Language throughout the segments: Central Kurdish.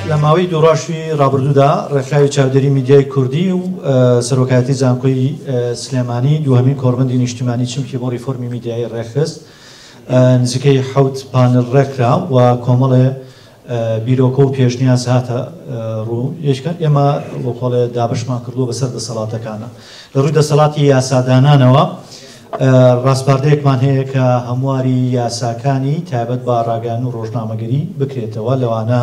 لە ماوەی دوڕاشی ڕابردوودا ڕێکخراوی چاودێری میدیای کوردی و سەرۆکایەتی زانکۆی سلێمانی دوهمین کۆربندی نیشتیمانی چمکی بۆ ریفۆرمی میدیایی ڕێکخست نزیکەی حوت پانل ڕێکرا و کۆمەڵێ بیرۆکە و پێشنیاز هاتە ڕوو، یەکێکە ئێمە وەکو ئەڵێ دابەشمان کردووە بەسەر دەسەڵاتەکانا، لە ڕووی دەسەڵاتی یاسادانانەوە ڕاسپاردەیەکمان هەیە کە هەمواری یاساکانی تایبەت بە ڕاگەیاندن و ڕۆژنامەگەری بکرێتەوە، لەوانە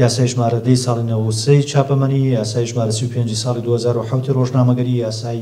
یاسای ژمارە دە ی ساڵی نەوەد و سێ ی چاپەمەنی، یاسای ژمارە سی و پێنج ی ساڵی دوو هەزار و حەوت ی ڕۆژنامەگەری، یاسای.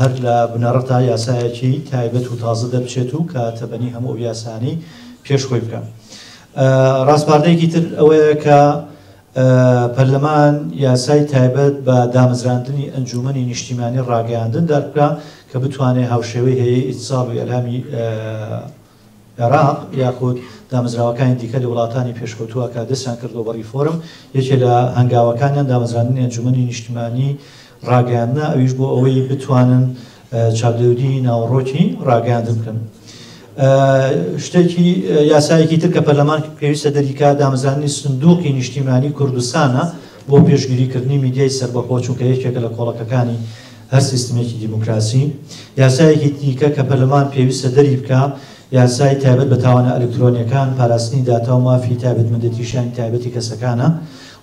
هەر لە بنەڕەتا یاسایەکی تایبەت و تازە دەربچێت و کە تەبەنی هەموو ئەو یاسانەی پێش خۆی بکا. ڕاسپاردەیەکی تر ئەوەیە کە پەرلەمان یاسای تایبەت بە دامەزراندنی ئەنجوومەنی نیشتیمانی ڕاگەیاندن دەربکا کە بتوانێ هاوشێوەی هەیەی ئیتسال و ئیلامی عێراق یاخود دامەزراوەکانی دیکە لە وڵاتانی پێشکەوتووە کە دەستیان کردووە بە ڕیفۆرم، یەکێ لە هەنگاوەکانیان دامەزراندنی ئەنجومەنی نیشتیمانی ڕاگەیاندنە، ئەویش بۆ ئەوەی بتوانن چاودێری ناوەڕۆکی ڕاگەیاندن بکەن. شتێکی یاسایەکی تر کە پەرلەمان پێویستە دەریکا دامەزراندنی سندوقی نیشتیمانی کوردستانە بۆ پێشگیریکردنی میدیای سەربەخۆ، چونکە یەکێکە لە کۆڵەکەکانی هەر سیستمێکی دیموکراسی، یاسایەکی دیکە کە پەرلەمان پێویستە دەری بکا، یاسای تایبەت بە تاوانە ئەلکترۆنییەکان، پاراستنی داتا و مافی تایبەتمەندێتی شیانی تایبەتی کەسەکانە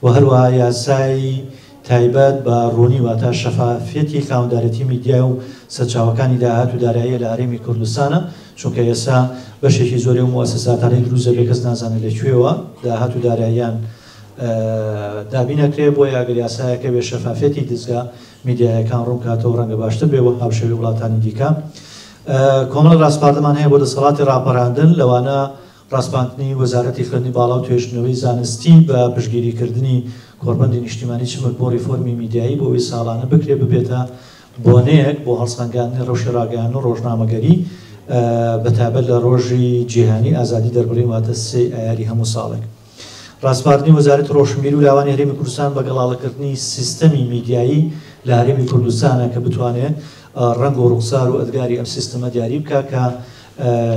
و هەروەها یاسای تایبەت بە ڕوونی واتا شەفافیەتی خاوەندارێتی میدیا و سەرچاوەکانی داهات و داراییە لە هەرێمی کوردستانە، چونکە ئێستا بەشێکی زۆری ئەو موئەسەساتانەی دروست دەبێ کەس نازانێ لە کوێوە داهات و داراییان دابین ئەکرێ، بۆیە ئەگەر یاسایەکە بێ شەفافیەتی دزگا، میدیایەکان ڕوونکاتەوە ڕەنگە باشتر بێ وەک هاوشێوەی وڵاتانی دیکە کۆمەڵە ڕاسپاردەمان هەیە بۆ دەسەڵاتی ڕاپەراندن لەوانە ڕاسپاندنی وەزارەتی خوێندنی باڵا و توێژنەوەی زانستی بە پشگیریکردنی کۆڕبەندی نیشتیمانی چمک بۆ ڕیفۆرمی میدیایی بۆ ئەوەی ساڵانە بکرێ ببێتە بۆنەیەک بۆ هەڵسەنگاندنی ڕەوشی ڕاگەیاندن و ڕۆژنامەگەری بەتایبەت لە ڕۆژی جیهانی ئازادی دەربڕین واتە سێی ئایاری هەموو ساڵێک. ڕاسپاردنی وەزارەتی ڕۆشنبیری و لاوانی هەرێمی کوردستان بە گەڵاڵەکردنی سیستەمی میدیایی لە هەرێمی کوردستانە کە بتوانێ ڕەنگ و ڕوخسار و ئەدگاری ئەم سیستەمە دیاری بکا کە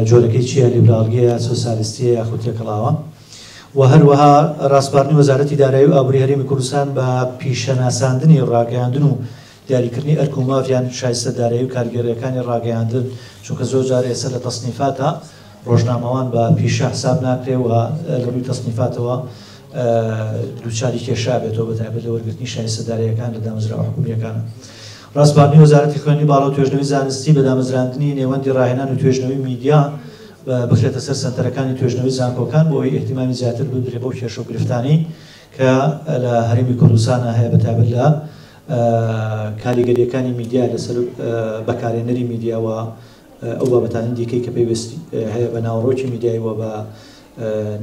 جۆرەکەی چییە، لیبراڵییە، سۆسیالیستییە یاخود تێکەڵاوە. و هەروەها ڕاسپاردنی وەزارەتی دارایی و ئابووری هەرێمی کوردستان بە پیشەناساندنی ڕاگەیاندن و دیاریکردنی ئەرک و مافیان، شایستە دارایی و کارگێڕییەکانی ڕاگەیاندن، چونکە زۆر جار ئێستا لە تەسنیفاتا ڕۆژنامەوان بە پیشە حساب ناکرێ و لە ڕووی تەسنیفاتەوە دووچاری کێشە ئەبێتەوە بە تایبەت لە وەرگرتنی شایستە داراییەکان لە دامەزراوە حکوومییەکان. ڕاسپاردنی وەزارەتی خوێندنی باڵا و توێژنەوەی زانستی بە دامەزراندنی نێوەندی ڕاهێنان و توێژنەوەی میدیا بخرێتە سەر سەنتەرەکانی توێژنەوەی زانکۆکان بۆ ئەوەی ئیهتیمامی زیاتر بدرێ بەو کێشە و گرفتانەی کە لە هەرێمی کوردستانا هەیە بە تایبەت لە کاریگەرییەکانی میدیا لەسەر بەکارهێنەری میدیا و ئەو بابەتانەی دیکەی کە پەیوەست هەیە بە ناوەڕۆکی میدیایی و بە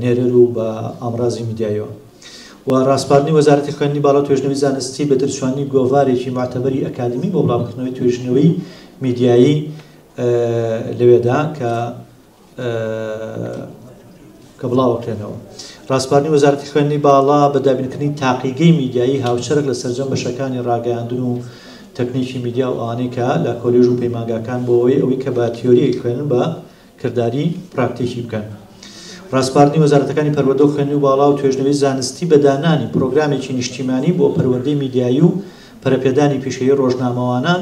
نێرەر و بە ئامڕازی میدیاییەوە و ڕاسپاردنی وەزارەتی خوێندنی باڵا و توێژنەوەی زانستی بە دەرچوانی گۆڤارێکی معتەبەری ئەکادمی بۆ بڵاوکردنەوەی توێژینەوەی میدیایی لەوێدا کە کە بڵاوەکرێنەوە. ڕاسپاردنی وەزارەتی خوێندنی باڵا بە دابینکردنی تاقیگەی میدیایی هاوچەرخ لە سەرجەم بەشەکانی ڕاگەیاندن و تەکنیکی میدیا و ئەوانەی کە لە کۆلێژ و پەیمانگاکان بۆ ئەوەی ئەوەی کە بە تیۆریەک خوێنن بە کردداری پراکتیکی بکەن. ڕاسپاردنی وەزارەتەکانی پەروەردە و خوێنی و باڵا و توێژنەوەی زانستی بە دانانی پرۆگرامێکی نیشتیمانی بۆ پەروەردەی میدیایی و پەرەپێدانی پیشەیی ڕۆژنامەوانان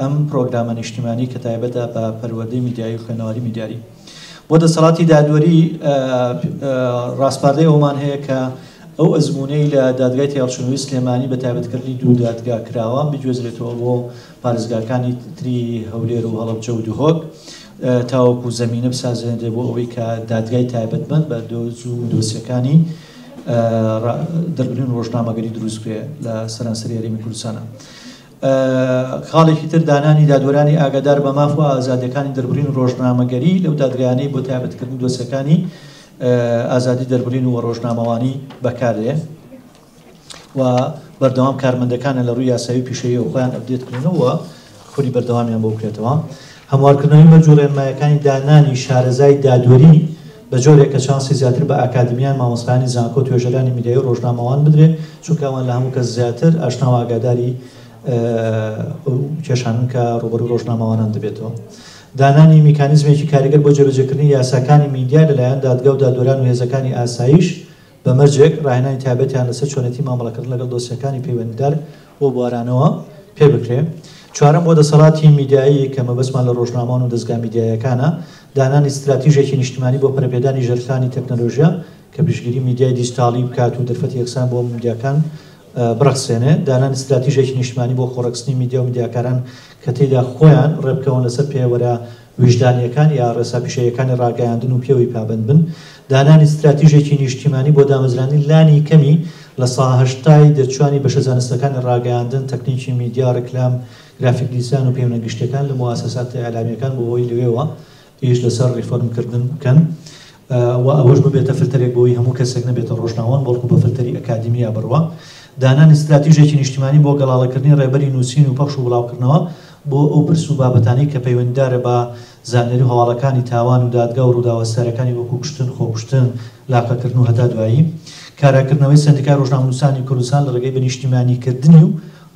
ئەم پرۆگرامە نیشتیمانی کە تایبەتە بە پەروەردەی میدیایی و خوێنەواری میدیاری بۆ دەسەڵاتی دادوەری ڕاسپاردەی ئەومان هەیە کە ئەو ئەزمونەی لە دادگای تێڵچنەوەی سلێمانی بە تایبەتکردنی دوو دادگا کراوە بگوێزرێتەوە بۆ پارێزگاکانی تری هەولێر و هەڵبجە و دهۆک تاوەکو زمینە بسازێنرێ بۆ ئەوەی کە دادگای تایبەتمەند بە دۆز و دۆسیەکانی دەربرین ڕۆژنامەگەری دروستکرێ لە سەرانسەری هەرێمی کوردستانە. خاڵێکی تر دانانی دادوەرانی ئاگادار بە ماف و ئازادیەکانی دەربڕین و ڕۆژنامەگەری لەو دادگایانەی بۆ تایبەتکردنی دۆسیەکانی ئازادی دەربڕین و ڕۆژنامەوانی بەکاردێن و بەردەوام کارمەندەکانە لە ڕووی یاسایی پیشەیە و خۆیان ئەبدێتکردنەوە خوری بەردەوامیان بۆ بکرێتەوە هەموارکردنەوەی مەرج و ڕێنمایەکانی دانانی شارەزای دادوەری بەجۆرێک کە چانسی زیاتر بە ئاکادمیان، مامۆستایانی زانکۆ، توێژەرانی میدیایی و ڕۆژنامەوان بدرێ، چونکە ئەوان لە هەموو کەس زیاتر ئاشنا و ئاگاداری ئەو کێشانەن کە ڕووبەڕووی ڕۆژنامەوانان دەبێتەوە. دانانی میکانیزمێکی کاریگەر بۆ جێبەجێکردنی یاساکانی میدیا لەلایەن دادگا و دادوەران و هێزەکانی ئاسایش، بە مەرجێک ڕاهێنانی تایبەتیان لەسەر چۆنێتی مامەڵەکردن لەگەڵ دۆسیەکانی پەیوەندیدار و بوارانەوە پێ بکرێ. چوارەم، بۆ دەسەڵاتی میدیایی کە مەبەستمان لە ڕۆژنامەوان و دەزگا میدیاییەکانە، دانانی ستراتیژێکی نیشتمانی بۆ پەرەپێدانی ژەرخانی تەکنەلۆژیا کە پشتگیری میدیای دیجتاڵی بکات و دەرفەتی یەکسان بۆ هەموو میدیاکان بڕەخسێنێ، دانانی ستراتیژێکی نیشتمانی بۆ خۆڕەکسنی میدیا و میدیاکاران کە تێیدا خۆیان ڕێبکەون لەسەر پێوەرە ویژدانییەکان یا ڕێسا پیشەییەکانی ڕاگەیاندن و پێوەی پابەند بن، دانانی ستراتیژێکی نیشتیمانی بۆ دامەزراندنی لانی کەمی لە سەها هەشتای دەرچووانی بەشە زانستەکانی ڕاگەیاندن، تەکنیکی میدیا، ڕیکلام، گرافیک دیزاین و پەیونە گشتیەکان لە موئەسەساتە ئیعلامیەکان بۆ ئەوەی لەوێوە ئیش لەسەر ڕیفۆرمکردن بکەن و ئەوەش ببێتە فلتەرێک بۆوەی هەموو کەسێک نەبێتە ڕۆژناوەند بەڵکو بە فلتەری ئەکادیمیا بڕوا. دانانی ستراتیژێکی نیشتیمانی بۆ گەڵاڵەکردنی ڕێبەری نووسین و پەخش و بڵاوکردنەوە بۆ ئەو پرس و بابەتانەی کە پەیوەندیدارە بە زانیاری و هەواڵەکانی تاوان و دادگا و ڕووداوە سارەکانی وەکو کوشتن، خۆکوشتن، لاقەکردن و هەتا دوایی. کاراکردنەوەی سەندیکای ڕۆژنامەنووسانی کوردستان لە ڕێگەی بە نیشتیمانیکردنی و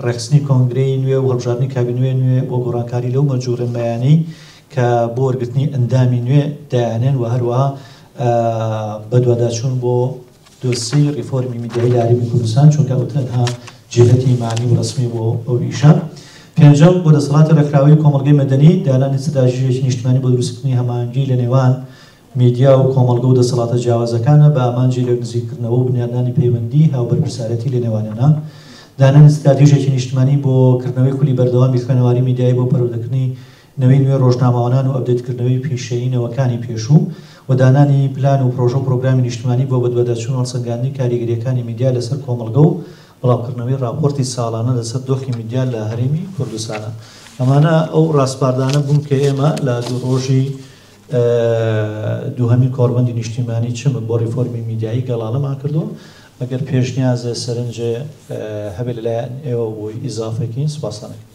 ڕێکخستنی کۆنگرەی نوێ و هەڵبژاردنی کابینوێ نوێ و گۆڕانکاری لەو مەرج و ڕێنمایانەی کە بۆ وەرگرتنی ئەندامی نوێ دایاننێن و هەروەها بەدواداچوون بۆ دۆسیەی ڕیفۆرمی میدیایی لە هەرێمی کوردستان، چونکە ئەو تەنها جێهەتی مەعنی و ڕەسمی بۆ ئەو ئیشە. پێنجەم، بۆ دەسەڵاتی ڕێکخراوەی کۆمەڵگەی مەدەنی، دانانی ستراتژییەکی نیشتمانی بۆ دروستکردنی هەماهەنگی لە نێوان میدیا و کۆمەڵگە و دەسەڵاتە جیاوازەکانە بە ئامانجی لێکنزیککردنەوە و بنیادنانی پەیوەندیی هاوبەرپرسارێتی لە نێوانیانا. دانانی ستراتیژێکی نیشتمانی بۆ کردنەوەی خولی بەردەوامی خوێنەواری میدیایی بۆ پەروەردەکردنی نەوەی نوێ ڕۆژنامەوانان و ئەپدەیتکردنەوەی پیشەیی نەوەکانی پێشوو و دانانی پلان و پڕۆژە و پڕۆگرامی نیشتمانی بۆ بەدواداچوون و هەڵسەنگاندنی کاریگەرییەکانی میدیا لەسەر کۆمەڵگە و بڵاوکردنەوەی ڕاپۆرتی ساڵانە لەسەر دۆخی میدیا لە هەرێمی کوردستانە. ئەمانە ئەو ڕاسپاردانە بوون کە ئێمە لە دوو ڕۆژی دووهەمین کۆڕبەندی نیشتیمانی چمک بۆ ڕێفۆرمی میدیایی گەڵاڵەمان کردووە. ئەگەر پێشنیازێ، سەرنجێ هەبێ لەلایەن ئێوە بۆی ئیزافەکەین، سوپاستان ئەکەین.